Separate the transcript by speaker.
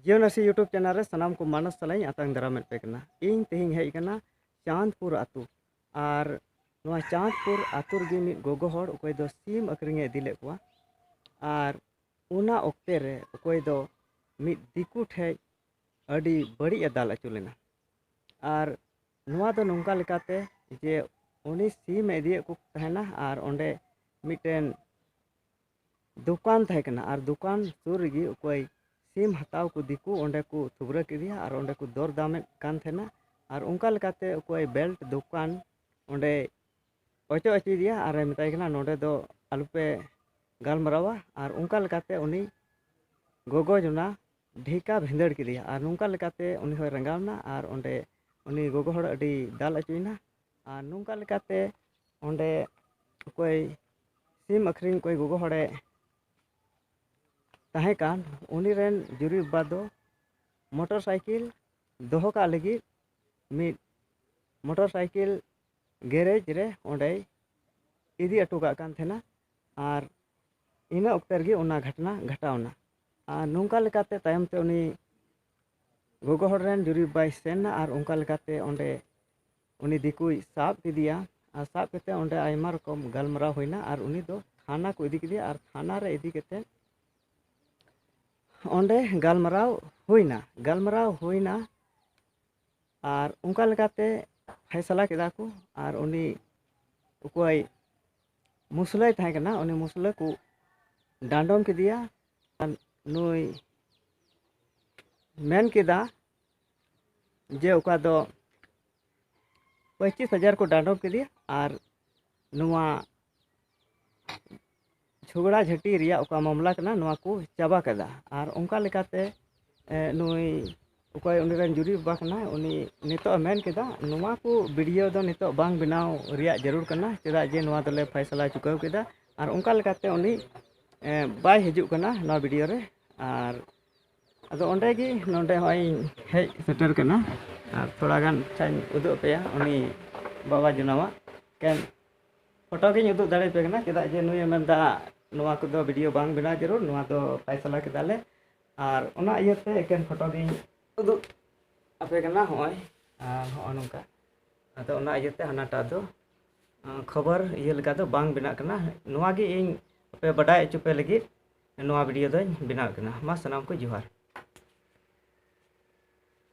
Speaker 1: ᱡᱤᱭᱚᱱ ᱟᱹᱥᱤ YouTube channel ᱨᱮ ᱥᱟᱱᱟᱢ ᱠᱚ ᱢᱟᱱᱚᱥ ᱥᱟᱞᱟᱧ ᱟᱛᱟᱝ ᱫᱟᱨᱟᱢᱮᱫ ᱯᱮ ᱠᱟᱱᱟ ᱤᱧ ᱛᱮᱦᱮᱧ ᱦᱮᱡ ᱠᱟᱱᱟ ᱪᱟᱸᱫᱽᱯᱩᱨ ᱟᱛᱳ ᱟᱨ ᱱᱚᱣᱟ ᱪᱟᱸᱫᱽᱯᱩᱨ ᱟᱛᱳ ᱨᱮᱜᱮ ᱢᱤᱫ ᱜᱚᱜᱚ ᱦᱚᱲ ᱚᱠᱚᱭ ᱫᱚ ᱥᱤᱢ ᱟᱹᱠᱷᱨᱤᱧᱮ ᱤᱫᱤ ᱞᱮᱫ ᱠᱚᱣᱟ ᱟᱨ ᱚᱱᱟ ᱚᱠᱛᱮ ᱨᱮ ᱚᱠᱚᱭ ᱫᱚ ᱢᱤᱫ ᱫᱤᱠᱩ ᱴᱷᱮᱡ ᱟᱹᱰᱤ ᱵᱟᱹᱲᱤᱡ ᱮ ᱫᱟᱞ ᱟᱹᱪᱩ ᱞᱮᱱᱟ ᱟᱨ ᱱᱚᱣᱟ ᱫᱚ ᱱᱚᱝᱠᱟ ᱞᱮᱠᱟᱛᱮ ᱡᱮ ᱩᱱᱤ ᱥᱤᱢᱮ ᱤᱫᱤᱭᱮᱫ ᱠᱚ ᱛᱟᱦᱮᱱᱟ ᱟᱨ ᱚᱸᱰᱮ ᱢᱤᱫᱴᱮᱱ ᱫᱚᱠᱟᱱ ᱛᱟᱦᱮᱸ ᱠᱟᱱᱟ ᱟᱨ ᱫᱚᱠᱟᱱ ᱥᱩᱨ ᱨᱮᱜᱮ ᱚᱠᱚᱭ ᱥᱤᱢ ᱦᱟᱛᱟᱣ ᱠᱚ ᱫᱤᱠᱩ ᱚᱸᱰᱮ ᱠᱚ ᱛᱷᱩᱵᱽᱨᱟᱹ ᱠᱮᱫᱮᱭᱟ ᱟᱨ ᱚᱸᱰᱮ ᱠᱚ ᱫᱚᱨ ᱫᱟᱢᱮᱫ ᱠᱟᱱ ᱛᱟᱦᱮᱱᱟ ᱟᱨ ᱚᱱᱠᱟ ᱞᱮᱠᱟᱛᱮ ᱚᱠᱚᱭ ᱵᱮᱞᱴ ᱫᱚᱠᱟᱱ ᱚᱸᱰᱮ ᱚᱪᱚᱜ ᱚᱪᱚᱭᱮᱫᱮᱭᱟ ᱟᱨᱮ ᱢᱮᱛᱟᱭ ᱠᱟᱱᱟ ᱱᱚᱸᱰᱮ ᱫᱚ ᱟᱞᱚᱯᱮ ᱜᱟᱞᱢᱟᱨᱟᱣᱟ ᱟᱨ ᱚᱱᱠᱟ ᱞᱮᱠᱟᱛᱮ ᱩᱱᱤ ᱜᱚᱜᱚ ᱡᱚᱱᱟ ᱰᱷᱮᱠᱟ ᱵᱷᱤᱸᱫᱟᱹᱲ ᱠᱮᱫᱮᱭᱟ ᱟᱨ ᱱᱚᱝᱠᱟ ᱞᱮᱠᱟᱛᱮ ᱩᱱᱤ ᱦᱚᱸᱭ ᱨᱟᱸᱜᱟᱣ ᱮᱱᱟ ᱟᱨ ᱚᱸᱰᱮ ᱩᱱᱤ ᱜᱚᱜᱚ ᱦᱚᱲ ᱟᱹᱰᱤ ᱫᱟᱞ ᱚᱪᱚᱭᱮᱱᱟ ᱟᱨ ᱱᱚᱝᱠᱟ ᱞᱮᱠᱟᱛᱮ ᱚᱸᱰᱮ ᱚᱠᱚᱭ ᱥᱤᱢ ᱟᱹᱠᱷᱨᱤᱧ ᱠᱚᱭ ᱜᱚᱜᱚ ᱦᱚᱲᱮ ᱛᱟᱦᱮᱸ ᱠᱟᱱ ᱩᱱᱤ ᱨᱮᱱ ᱡᱩᱨᱤ ᱵᱟᱵᱟ ᱫᱚ ᱢᱚᱴᱚᱨ ᱥᱟᱭᱠᱮᱞ ᱫᱚᱦᱚ ᱠᱟᱜ ᱞᱟᱹᱜᱤᱫ ᱢᱤᱫ ᱢᱚᱴᱚᱨ ᱥᱟᱭᱠᱮᱞ ᱜᱮᱨᱮᱡᱽ ᱨᱮ ᱚᱸᱰᱮᱭ ᱤᱫᱤ ᱦᱚᱴᱚ ᱠᱟᱜ ᱠᱟᱱ ᱛᱟᱦᱮᱱᱟ ᱟᱨ ᱤᱱᱟᱹ ᱚᱠᱛᱮ ᱨᱮᱜᱮ ᱚᱱᱟ ᱜᱷᱚᱴᱚᱱᱟ ᱜᱷᱚᱴᱟᱣᱱᱟ ᱟᱨ ᱱᱚᱝᱠᱟ ᱞᱮᱠᱟᱛᱮ ᱛᱟᱭᱚᱢ ᱛᱮ ᱩᱱᱤ ᱜᱚᱜᱚ ᱦᱚᱲ ᱨᱮᱱ ᱡᱩᱨᱤ ᱵᱟᱭ ᱥᱮᱱ ᱮᱱᱟ ᱟᱨ ᱚᱱᱠᱟ ᱞᱮᱠᱟᱛᱮ ᱚᱸᱰᱮ ᱩᱱᱤ ᱫᱤᱠᱩᱭ ᱥᱟᱵ ᱠᱮᱫᱮᱭᱟ ᱟᱨ ᱥᱟᱵ ᱠᱟᱛᱮᱫ ᱚᱸᱰᱮ ᱟᱭᱢᱟ ᱨᱚᱠᱚᱢ ᱜᱟᱞᱢᱟᱨᱟᱣ ᱦᱩᱭᱱᱟ ᱟᱨ ᱩᱱᱤ ᱫᱚ ᱛᱷᱟᱱᱟ ᱠᱚ ᱤᱫᱤ ᱠᱮᱫᱮᱭᱟ ᱟᱨ ᱛᱷᱟᱱᱟ ᱨᱮ ᱤᱫᱤ ᱠᱟᱛᱮᱫ ᱚᱸᱰᱮ ᱜᱟᱞᱢᱟᱨᱟᱣ ᱦᱩᱭᱱᱟ ᱜᱟᱞᱢᱟᱨᱟᱣ ᱦᱩᱭᱱᱟ ᱟᱨ ᱚᱱᱠᱟ ᱞᱮᱠᱟᱛᱮ ᱯᱷᱟᱭᱥᱟᱞᱟ ᱠᱮᱫᱟ ᱠᱚ ᱟᱨ ᱩᱱᱤ ᱚᱠᱚᱭ ᱢᱩᱥᱞᱟᱹᱭ ᱛᱟᱦᱮᱸ ᱠᱟᱱᱟ ᱩᱱᱤ ᱢᱩᱥᱞᱟᱹ ᱠᱚ ᱰᱟᱸᱰᱚᱢ ᱠᱮᱫᱮᱭᱟ ᱱᱩᱭ ᱢᱮᱱ ᱠᱮᱫᱟ ᱡᱮ ᱚᱠᱟ ᱫᱚ ᱯᱚᱸᱪᱤᱥ ᱦᱟᱡᱟᱨ ᱠᱚ ᱰᱟᱸᱰᱚᱢ ᱠᱮᱫᱮᱭᱟ ᱟᱨ ᱱᱚᱣᱟ ᱡᱷᱚᱜᱽᱲᱟ ᱡᱷᱟᱹᱴᱤ ᱨᱮᱭᱟᱜ ᱚᱠᱟ ᱢᱟᱢᱞᱟ ᱠᱟᱱᱟ ᱱᱚᱣᱟ ᱠᱚ ᱪᱟᱵᱟ ᱠᱮᱫᱟ ᱟᱨ ᱚᱱᱠᱟ ᱞᱮᱠᱟᱛᱮ ᱱᱩᱭ ᱚᱠᱚᱭ ᱩᱱᱤ ᱨᱮᱱ ᱡᱩᱨᱤ ᱵᱟᱵᱟ ᱠᱟᱱᱟᱭ ᱩᱱᱤ ᱱᱤᱛᱚᱜ ᱮ ᱢᱮᱱ ᱠᱮᱫᱟ ᱱᱚᱣᱟ ᱠᱚ ᱵᱷᱤᱰᱭᱳ ᱫᱚ ᱱᱤᱛᱚᱜ ᱵᱟᱝ ᱵᱮᱱᱟᱣ ᱨᱮᱭᱟᱜ ᱡᱟᱹᱨᱩᱲ ᱠᱟᱱᱟ ᱪᱮᱫᱟᱜ ᱡᱮ ᱱᱚᱣᱟ ᱫᱚᱞᱮ ᱯᱷᱚᱭᱥᱟᱞᱟ ᱪᱩᱠᱟᱹᱣ ᱠᱮᱫᱟ ᱟᱨ ᱚᱱᱠᱟ ᱞᱮᱠᱟᱛᱮ ᱩᱱᱤ ᱵᱟᱭ ᱦᱤᱡᱩᱜ ᱠᱟᱱᱟ ᱱᱚᱣᱟ ᱵᱷᱤᱰᱭᱳ ᱨᱮ ᱟᱨ ᱟᱫᱚ ᱚᱸᱰᱮ ᱜᱮ ᱱᱚᱰᱮ ᱦᱚᱸᱜᱼᱚᱭ ᱤᱧ ᱦᱮᱡ ᱥᱮᱴᱮᱨ ᱠᱟᱱᱟ ᱟᱨ ᱛᱷᱚᱲᱟ ᱜᱟᱱ ᱟᱪᱪᱷᱟᱧ ᱩᱫᱩᱜ ᱟᱯᱮᱭᱟ ᱩᱱᱤ ᱵᱟᱵᱟ ᱡᱚᱱᱟᱣᱟᱜ ᱮᱠᱮᱱ ᱯᱷᱳᱴᱳ ᱜᱤᱧ ᱩᱫᱩᱜ ᱫᱟᱲᱮ ᱟᱯᱮ ᱠᱟᱱᱟ ᱪᱮᱫᱟᱜ ᱡᱮ ᱱᱩᱭᱮ ᱢᱮᱱᱫᱟ ᱱᱚᱣᱟ ᱠᱚᱫᱚ ᱵᱷᱤᱰᱭᱳ ᱵᱟᱝ ᱵᱮᱱᱟᱣ ᱡᱟᱹᱨᱩᱲ ᱱᱚᱣᱟ ᱫᱚ ᱯᱷᱚᱭᱥᱟᱞᱟ ᱠᱮᱫᱟᱞᱮ ᱟᱨ ᱚᱱᱟ ᱤᱭᱟᱹᱛᱮ ᱮᱠᱮᱱ ᱯᱷᱳᱴᱳ ᱜᱤᱧ ᱩᱫᱩᱜ ᱟᱯᱮ ᱠᱟᱱᱟ ᱦᱚᱸᱜᱼᱚᱭ ᱟᱨ ᱦᱚᱸᱜᱼᱚ ᱱᱚᱝᱠᱟ ᱟᱫᱚ ᱚᱱᱟ ᱤᱭᱟᱹᱛᱮ ᱦᱟᱱᱟᱴᱟᱜ ᱫᱚ ᱠᱷᱚᱵᱚᱨ ᱤᱭᱟᱹ ᱞᱮᱠᱟ ᱫᱚ ᱵᱟᱝ ᱵᱮᱱᱟᱜ ᱠᱟᱱᱟ ᱱᱚᱣᱟ ᱜᱮ ᱤᱧ ᱟᱯᱮ ᱵᱟᱰᱟᱭ ᱦᱚᱪᱚ ᱯᱮ ᱞᱟᱹᱜᱤᱫ ᱱᱚᱣᱟ ᱵᱷᱤᱰᱤᱭᱳ ᱫᱚᱧ ᱵᱮᱱᱟᱣᱮᱫ ᱠᱟᱱᱟ ᱢᱟ ᱥᱟᱱᱟᱢ ᱠᱚ ᱡᱚᱦᱟᱨ